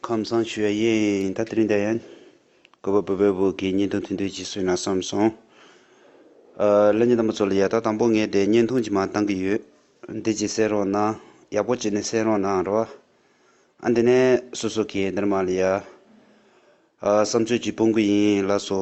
ཁམས་བཟང་ཞུ་བ་ཡིན་ད་དུ་རིན་ད་ཡན། གུས་པ་བོད་པའི་བུ་དགེ་བསྙེན་ཐུང་ཐུང་དུས་ཀྱི་བསོད་ནམས་བསམ་སོང། ཀླད་རྙིང་དམ་པ་ཚོ་ལ་ཡག་ད་དང་པོ་ངས་དེ་བརྙན་ཐུང་ཅིག་མ་བཏང་གི་ཡོད། འདི་ཅིག་གསན་རོགས་གནང་ཡག་པོ་བྱས་ནས་གསན་རོགས་གནང་རོགས། ཨ་འདི་ནས་སོ་སོ་གིས་འདིར་མ་ལ་ཡ། བསམ་ཚོད་ཀྱིས་སྤོང་གི་ཡིན་ལགས་སོ།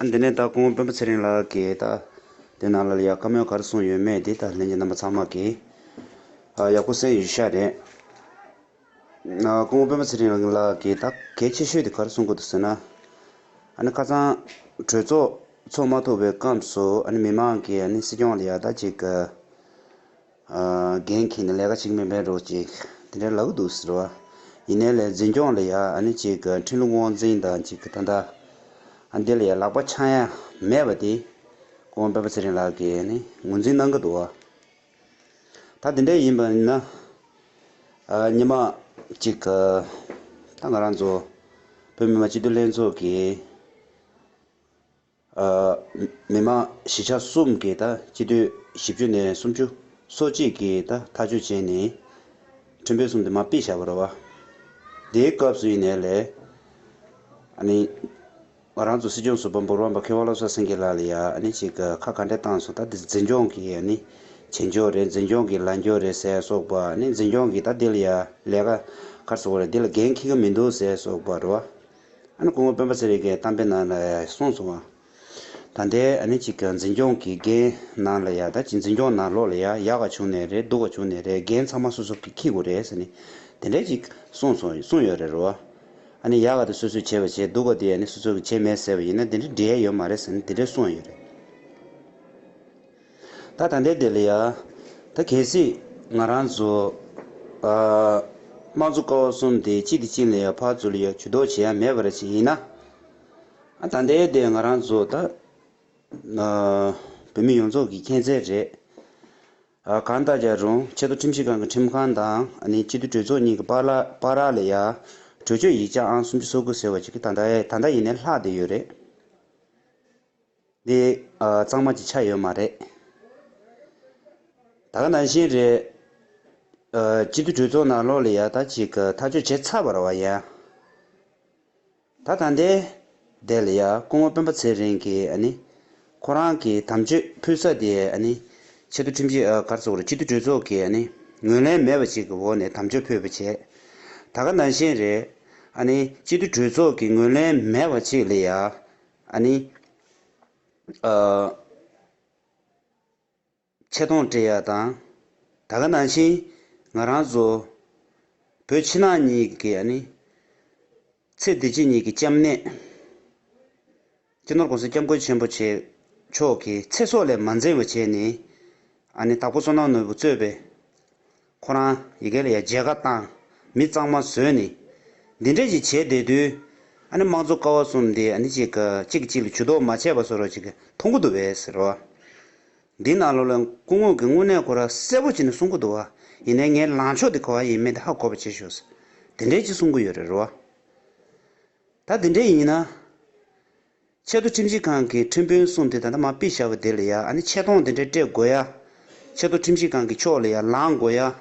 ཨ་འདི་ནས་ད་ཁོང་དཔོན་པོ་ཚེ་རིང་ལགས་ཀྱིས་ད་དེ་ནང་ལ་ཡ་བཀའ་མོལ་གར་སོང་ཡོད་མེད་དེ་ད་ལྷན་གྱི་རྣམ་པ་ཚང་མ་གིས་ཡག་པོ་གསན་ཡོད་ཤག་རེད། ཁོང་དཔོན་པོ་ཚེ་རིང་ལགས་ཀྱིས་ད་གལ་ཆེ་ཤོས་དེ་གར་སོང་དགོས་འདུག་ཟེར་ན། ཨ་ནི་ཁ་ཚང་གྲོས་ཚོགས་ཚོགས་མ་ཐུབ་པའི་སྐབས་སུ་ཨ་ནི་མི་མང་གིས་ཨ་ནི་སྲིད་སྐྱོང་ལ་ཡག་ད་ཅིག། རྒན་མཁན་ནི་ལས་ཀ་གཅིག་མིན་པས་འགྲོ་ཅིག་དེ་འདྲའི་ལག་འདུག་ཟེར་བ་ཡིན་ནའི་ལས་འཛིན་སྐྱོང་ལ་ཡ་ཨ་ནི་གཅིག་གི་འཕྲིན་ལུགས་དབང་འཛིན་དང་གཅིག་གི་ད་ལྟ་ཨ་འདི་ལ་ཡ་ལག་པ་འཆང་ཡ་མེད་པ་དེ་ཀོང་པོད་པ་ཚེ་རིང་ལགས་ཀྱིས་ཨ་ནི་ངོས་འཛིན་གནང་གི་འདུག་བ། ད་དེ་འདྲ་ཡིན་པ་ན་ཉི་མ་གཅིག་གི་ད་ང་རང་ཚོ་བོད་མི་མང་སྤྱི་འཐུས་ལྷན་ཚོགས་ཀྱི། མི་དམངས་བཞི་ཆ་གསུམ་གྱིས་སྤྱི་འཐུས་བཞི་བཅུ་ནས་སུམ་ཅུ་སོ་གཅིག་གིས་ཐག་གཅོད་བྱས་ནས། ཁྲིམས་དཔོན་གསུམ་དུ་མ་དཔེ་བྱ་བར་རོལ་བ། དེའི་སྐབས་སུ་ཡིན་ནའི་ལས། ང་རང་ཚོ་སྲིད་སྐྱོང་ཟུར་པ་འབོར་བ་འབའ་ཁེ་བ་བློ་བཟང་སེང་གེ་ལགས་ལ་ཡང་ཅིག་ཁ་ག་འདྲ་བཏང་སོང་ད་འདི་འཛིན་སྐྱོང་གི་བྱེད་མགྱོགས་རེད་འཛིན་སྐྱོང་གི་ལངས་སྐྱོ་རེད་ཟེར་སོགས་པ་འཛིན་སྐྱོང་གིས་ད་འདི་ལ་ཡང་ལས་ཀ་ཁར་སོང་བ་རེད་འདི་ལ་འགན་འཁྱི་གི་མི་འདུག་ཟེར་སོགས་པ་རོལ་བ། ཨ་ནི་སྐུ་ངོ་སྤེན་པ་ཚེ་རིང་གིས་གཏམ་དཔེ་ནང་ལ་གསུངས་སོང་བ། ད་ལྟའི་ཨ་ནི་གཅིག་འཛིན་སྐྱོང་གི་འགན་ནང་ལ་ཡ་ད་ཅིག་འཛིན་སྐྱོང་ནང་ལོག་ལ་ཡ་ཡག་ག་བྱུང་ནས་རེད་སྡུག་ག་བྱུང་ནས་རེད་འགན་ཚང་མ་སོ་སོ་གིས་ཁིག་དགོས་རེད་ཟེར་ནས་དེ་འདྲས་ཅིག་གསུངས་སོང་གསུངས་ཡོད་རེད་རོ། ཨ་ནི་ཡག་ག་དེ་སོ་སོས་བྱས་པ་བྱས་སྡུག་ག་དེ་ཨ་ནི་སོ་སོ་གིས་བྱས་མེད་ཟེར་བ་ཡིན་ན་དེ་འདྲས་འབྲེལ་ཡོད་མ་རེད་ཟེར་ནས་དེ་འདྲས་གསུངས་ཡོད་རེད། ད་ད་འདས་འདས་ལ་ཡ། ད་གལ་སྲིད། ང་རང་ཚོ། དམངས་གཙོ་ཀ་བ་གསུམ་དེ་གཅིག་གིས་གཅིག་ལ་ཡ་ཕར་ཚུར་ལ་ཡ་བྱུས་འདོགས་བྱེད་ཡ་མེད་པ་རེད་བྱས་ཡིན་ན། ད་འདས་འདས་ང་རང་ཚོ་ད། བོད་མི་ཡོངས་རྫོགས་ཀྱི་མཁྱེན་རྩལ་རེད། གང་ལྟར་ཀྱང་རུང་ཆེ་མདོ་ཁྲིམས་ཞིབ་ཁང་གི་ཁྲིམས་ཁང་དང་སྤྱི་འཐུས་གྲོས་ཚོགས་གཉིས་ཀྱི་པར་རག་ལ་ཡ། གྲོས་ཆོད་ཡིག་ཆ་ཨང་སུམ་ཅུ་སོ་དགུ་ཟེར་བ་ཅིག་གི་ད་ལྟ་ཡིན་ནས་ལྷག་བསྡད་ཡོད་རེད། འདི་གཙང་མ་གྱི་ཆ་ཡོད་མ་རེད། ད་ག་ནང་བཞིན་རེད། སྤྱི་འཐུས་གྲོས་ཚོགས་ནང་ལོགས་ལ་ཡག་ཐག་ཅིག་ཐག་གཅོད་བྱས་ཚར་བར་བ་ཡ། ད་ད་འདས་འདས་ལ་ཡ་སྐུ་ངོ་སྤེན་པ་ཚེ་རིང་གིས་ཨ་ནི། ཁོ་རང་གི་དམ་ཆོས་ཕུལ་ས་དེ་ཨ་ནི། ཆེ་མཐོ་ཁྲིམས་ཆད་གར་བཙུགས་ར་སྤྱི་འཐུས་གྲོས་ཚོགས་ཀྱི་ཨ་ནི། ངོས་ལེན་མེད་པ་ཅིག་གི་འོག་ནས་དམ་ཆོས་ཕུལ་བ་བྱས། ད་ག་ནང་བཞིན་རེད། ཨ་ནི་སྤྱི་འཐུས་གྲོས་ཚོགས་ཀྱི་ངོས་ལེན་མེད་པ་ཅིག་ལ་ཡ། ཨ་ནི། ཆེ་མཐོང་བཀྲེས་ཡ་དང། ད་ག་ནང་བཞིན་ང་རང་བཟོ། བོད་ཕྱི་ནང་གཉིས་ཀྱི་ཨ་ནི། ཚེ་བདེ་སྐྱིད་གཉིས་ཀྱི་སྐྱབས་གནས། སྤྱི་ནོར ྋགོང་ས ྋསྐྱབས་མགོན་ཆེན་པོ་ཆེ་མཆོག་གི་ཚེ་སྲོག་ལས་མ་འཛེམས་བ་བྱས་ནས། ཨ་ནི་དྭགས་པོ་བསོད་ནམས་ནོར་བུ་གཙོས་པའི། ཁོ་རང་ཡི་གེ་ལ་ཡ་མཇལ་ཁ་བཏང། མི་གཙང་མ་བཟོས་ནས། འདི་འདྲ་ཞིག་བྱས་བསྡད་དུས། ཨ་ནི་དམངས་གཙོ་ཀ་བ་གསུམ་འདི་ཨ་ནི་གཅིག་གཅིག་གཅིག་ལ་ཇུས་གཏོགས་མ་བྱས་པ་བཟོ་རོགས་གཅིག་མཐོང་གི་འདུག་བས་ཟེར་རོ། འདི་ནང་ལོགས་ལ་སྐུ་ངོས་ཀྱི་དངོས་གནས་ཁོ་རང་གསལ་པོ་བྱས་ནས་གསུང་གི་འདུག་བ། ཡིན་ནའི་ངའི་ལངས་ཕྱོགས་དེ་ག་བ་ཡིན་མིན་དེ་ཧ་གོ་བ་བྱེད་ཞོག་ཟེར། དེ་འདྲའི་གཅིག་གསུང་གི་ཡོད་རེད་རོ། ད་དེ་འདྲའི་ཡིན་ན། ཆེད་དུ་ཁྲིམས་ཞིབ་ཁང་གི་ཁྲིམས་དཔོན་གསུམ་དེ་ད་ལྟ་མ་དཔེ་བཞག་པའི་དེ་ལ་ཡང་ཨ་ནི་ཆེ་མཐོང་དེ་འདྲའི་སྤྲད་དགོས་ཡ། ཆེད་དུ་ཁྲིམས་ཞིབ་ཁང་གི་ཕྱོགས་ལ་ཡང་ལངས་དགོས་ཡ།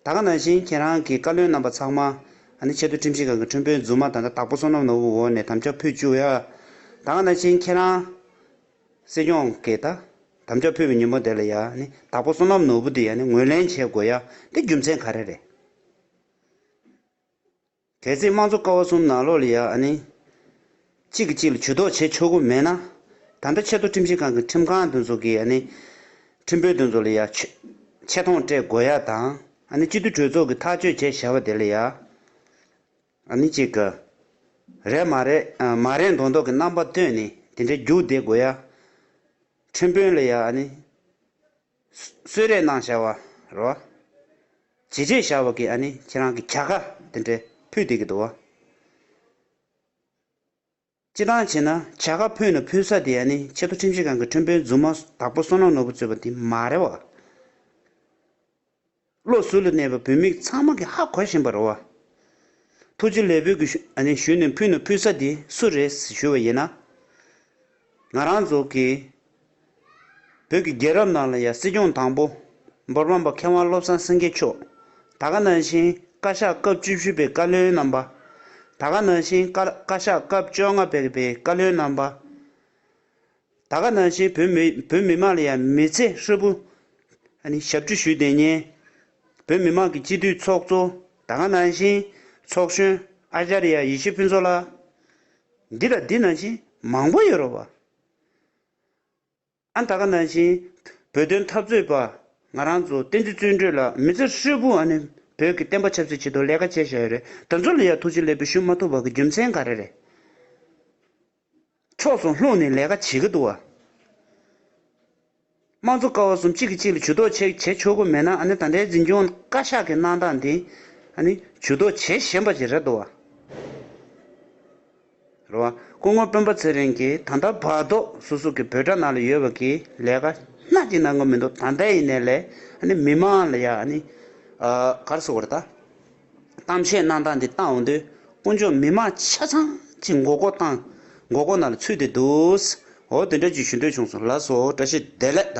ད་ག་ནང་བཞིན་ཁྱེད་རང་གི་བཀའ་བློན་རྣམ་པ་ཚང་མ་ཨ་ནི་ཆེད་དུ་ཁྲིམས་ཞིབ་ཁང་གི་ཁྲིམས་དཔོན་རྫུན་མ་དང་འདྲ་དྭགས་པོ་བསོད་ནམས་ནོར་བུའི་འོག་ནས་དམ་བཅའ་ཕུད་བཅུག་ཡ། ད་ག་ནང་བཞིན་ཁྱེད་རང། སྲིད་སྐྱོང་གིས་ད་དམ་བཅའ་ཕུད་པའི་ཉིན་མོ་དེ་ལ་ཡང་ཨ་ནི་དྭགས་པོ་བསོད་ནམས་ནོར་བུ་དེ་ཡང་ནི་ངོས་ལེན་བྱེད་དགོས་ཡ། དེ་རྒྱུ་མཚན་ག་རེ་རེད། གལ་སྲིད་དམངས་གཙོ་ཀ་བ་གསུམ་ནང་ལོགས་ལ་ཡ་ཨ་ནི། གཅིག་གིས་གཅིག་ལ་བྱུས་གཏོགས་བྱེད་ཆོག་གི་མེད་ན། ད་ལྟ་ཆེས་མཐོ་ཁྲིམས་ཞིབ་ཁང་གི་ཁྲིམས་ཁང་འདི་ཚོ་གིས་ཨ་ནི། ཁྲིམས་དཔོན་འདི་ཚོ་ལ་ཡ། ཆེ་མཐོང་སྤྲད་དགོས་ཡ་དང་ཨ་ནི་སྤྱི་འཐུས་གྲོས་ཚོགས་ཀྱི་ཐག་གཅོད་བྱས་བྱ་བ་དེ་ལ་ཡ། ཨ་ནི་གཅིག་གི། རེད་མ་རེད་མ་རེད་མདོག་མདོག་གི་རྣམ་པ་བཏོན་ནས་དེ་འདྲའི་རྒྱུགས་བསྡད་དགོས་ཡ། ཁྲིམས་དཔོན་ལ་ཡ་ཨ་ནི། གསོལ་རས་གནང་བྱ་བ་རོ། བྱེད་བྱེད་བྱ་བ་གིས་ནི་ཁྱེད་རང་གི་གྱ་ག་དེ་འདྲས་ཕུད་དེ་གི་དུ་བ། ཅི་ལྟར་བྱས་ན་གྱ་ག་ཕུད་ན་ཕུད་ས་དེ་ནི་ཆེད་དུ་ཁྲིམས་ཞིབ་ཁང་གི་ཁྲིམས་དཔོན་རྫུན་མ་དག་པོ་བསོད་ནམས་ནོར་བུ་གཙོས་པ་དེ་མ་རེད་བ། བློ་གཟུ་ལ་གནས་པའི་བུད་མེད་ཚང་མ་གིས་ཧ་གོ་བཞིན་པར་རོ། ཐུགས་རྗེ་ལས་བུ་གི་ཞུས་ནས་ཕུལ་ནས་ཕུལ་ས་དེ་སུ་རེད་ཞུས་པ་ཡིན་ན། ང་རང་ཚོ་གིས་བོད་ཀྱི་རྒྱལ་རབས་ནང་ལ་ཡང་སྲིད་སྐྱོང་དང་པོ་འབོར་འབངས་པ་མཁས་དབང་བློ་བཟང་སེང་གེ་མཆོག་ད་སྐ་ནང་བཞིན་བཀའ་ཤག་སྐབས་བཅུ་བཞི་པའི་བཀའ་བློན་རྣམ་པ། ད་སྐ་ནང་བཞིན་བཀའ་ཤག་སྐབས་བཅོ་ལྔ་པའི་བཀའ་བློན་རྣམ་པ། ད་ག་ནང་བཞིན་བོད་མི་བོད་མི་དམངས་ལ་ཡང་མི་ཚེ་ཧྲིལ་པོ། ཨ་ནི་ཞབས་ཕྱི་ཞུས་ཏེ་ཉན། བོད་མི་དམངས་ཀྱི་སྤྱི་འཐུས་ཚོགས་གཙོ་ད་ག་ནང་བཞིན་ཚོགས་གཞོན་ཨ་ཤ་རི་ཡ་ཡེ་ཤེས་ཕུན་ཚོགས་ལགས། འདི་ལ་འདི་ནང་བཞིན་མང་པོ་ཡོད་རོགས་པ། ཨ་ད་ག་ནང་བཞིན་བོད་དོན་འཐབ་རྩོད་པ་ང་རང་ཚོ་བསྟན་འཛིན་བརྩོན་འགྲུས་ལགས་མི་ཚེ་ཧྲིལ་པོ་ཨ་ནི་བོད་ཀྱི་བསྟན་པ་ཆབ་སྲིད་ཆེད་དུ་ལས་ཀ་བྱས་བཞག་ཡོད་རེད་ད་ཚོ་ལ་ཡང་ཐུགས་རྗེ་ལེགས་པོ་ཞུ་མ་ཐུབ་པ་གི་རྒྱུ་མཚན་ག་རེ་རེད། ཕྱོགས་སུ་ལྷུང་ནས་ལས་ཀ་བྱེད་ཀྱི་འདུག། དམངས་གཙོ་ཀ་བ་གསུམ་གཅིག་གིས་གཅིག་ལ་ཇུས་གཏོགས་བྱེད་བྱེད་ཆོག་གི་མེད་ན་ཨ་ནི་ད་ལྟའི་འཛིན་སྐྱོང་བཀའ་ཤག་གི་གནང་སྟངས་འདི་ཨ་ནི་ཇུས་གཏོགས་བྱེད་བཞིན་པ་ཞིག་རེད་འདུག་བ། རེད་བ། སྐུ་ངོ་སྤེན་པ་ཚེ་རིང་གིས་ད་ལྟ་བར་དུ་སུ་སུ་གི་བོད་དྲ་ནང་ལ་ཡོད་པ་གིས་ལས་ཀ་སྣ་གཅིག་གནང་གི་མི་འདུག་ད་ལྟའི་ཡིན་ནའི་ལས་ཨ་ནི་མི་དམངས་ལ་ཡ་ཨ་ནི་གར་སོང་བ་རེད་ད། གཏམ་བཤད་གནང་སྟངས་འདི་བལྟ་འོང་དུས་དཀོན་མཆོག་མི་མང་ཆ་ཚང་གི་མགོ་སྐོར་སྟངས་མགོ་སྐོར་ནང་ལ་ཚུད་དེ་འདུག་འོ་དེ་འདྲ་རྒྱུ་ཞུ་འདོད་བྱུང་སོང་ལགས་སོ་བཀྲ་ཤིས་བདེ་ལེགས་ད།